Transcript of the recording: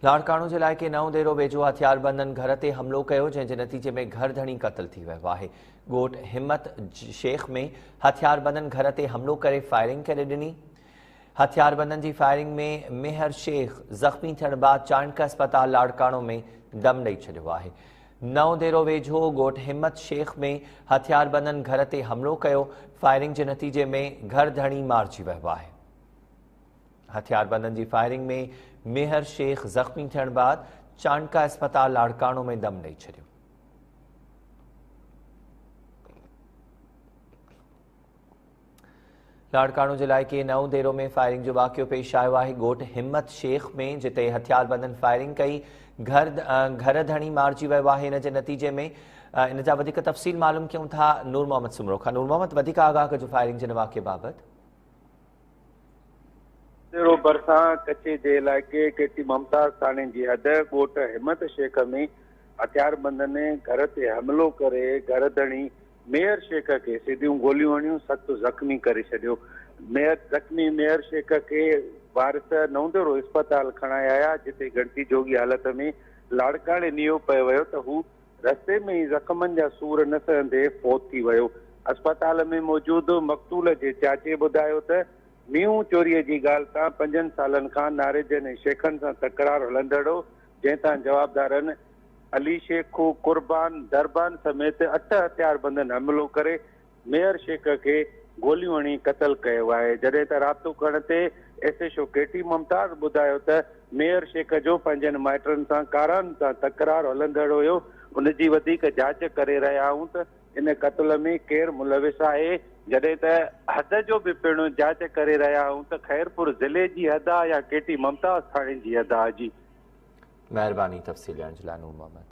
لاڙڪاڻو جي علائقي نئون ديرو ويجهو هٿياربندن گهر تي حملو ڪيو جنهن جي نتيجي ۾ گهر ڌڻي قتل ٿي ويو آهي ڳوٺ همت شيخ ۾ هٿياربندن گهر تي حملو ڪري فائرنگ ڪري ڏني هٿياربندن جي فائرنگ ۾ ميهر شيخ زخمي ٿيڻ بعد چانڊڪ اسپتال لاڙڪاڻو ۾ دم ڏئي ڇڏيو آهي نئون ديرو ويجهو ڳوٺ همت شيخ ۾ هٿياربندن گهر تي حملو ڪيو فائرنگ جي نتيجي ۾ گهر ڌڻي مارجي ويو آهي هٿياربندن جي فائرنگ ۾ ميهر شيخ زخمي ٿيڻ بعد چانڊڪا اسپتال لاڙڪاڻو ۾ دم ڏئي ڇڏيو. لاڙڪاڻو جي علائقي نئون ديرو ۾ فائرنگ جو واقعو پيش آيو آهي ڳوٺ همت شيخ ۾ جتي هٿياربندن فائرنگ ڪئي گهر گهر ڌڻي مارجي ويو آهي ان جي نتيجي ۾ ان جا وڌيڪ تفصيل معلوم ڪيون ٿا نور محمد سمرو کان نور محمد وڌيڪ آگاهه ڪجو فائرنگ جي واقعي بابت سيرو ڀرسان ڪچي جي علائقي ڪيٽي ممتاز ٿاڻي جي حد ڳوٺ همت شيخ ۾ هٿياربندن گهر تي حملو ڪري گهر ڌڻي ميهر شيخ کي سڌيون گوليون هڻيون سخت زخمي ڪري ڇڏيو ميهر زخمي ميهر شيخ کي وارث نوندرو اسپتال کڻائي آيا جتي ڳڻتي جوڳي حالت ۾ لاڙڪاڻي نيو پيو ويو ته هو رستي ۾ ئي زخمن جا سور نه سهندي فوت ٿي ويو. اسپتال ۾ موجود مقتول جي چاچي ٻڌايو ته، مينهون چوريء جي ڳالهه تان پنجن سالن کان ناريجن ۽ شيخن سان تڪرار هلندڙ هو، جنهن تان جوابدارن علي شيخو، قربان، دربان سميت اٺ هٿياربندن حملو ڪري ميئر شيخ کي گوليون هڻي قتل ڪيو آهي جڏهن ته رابطو ڪرڻ تي ايس ايڇ او ڪي ٽي ممتاز ٻڌايو ته ميئر شيخ جو پنهنجن مائٽن سان ڪاران سان تڪرار هلندڙ هيو ان جي وڌيڪ جاچ ڪري رهيا آهيون ته ان قتل ۾ ڪير ملوث آهي جڏهن ته حد جو به پڻ جاچ ڪري رهيا آهيون ته خيرپور ضلعي جي حد آهي يا ڪي ٽي ممتاز ٿاڻي جي حد آهي جي مهرباني تفصيل ڏيڻ جي لاء نور محمد.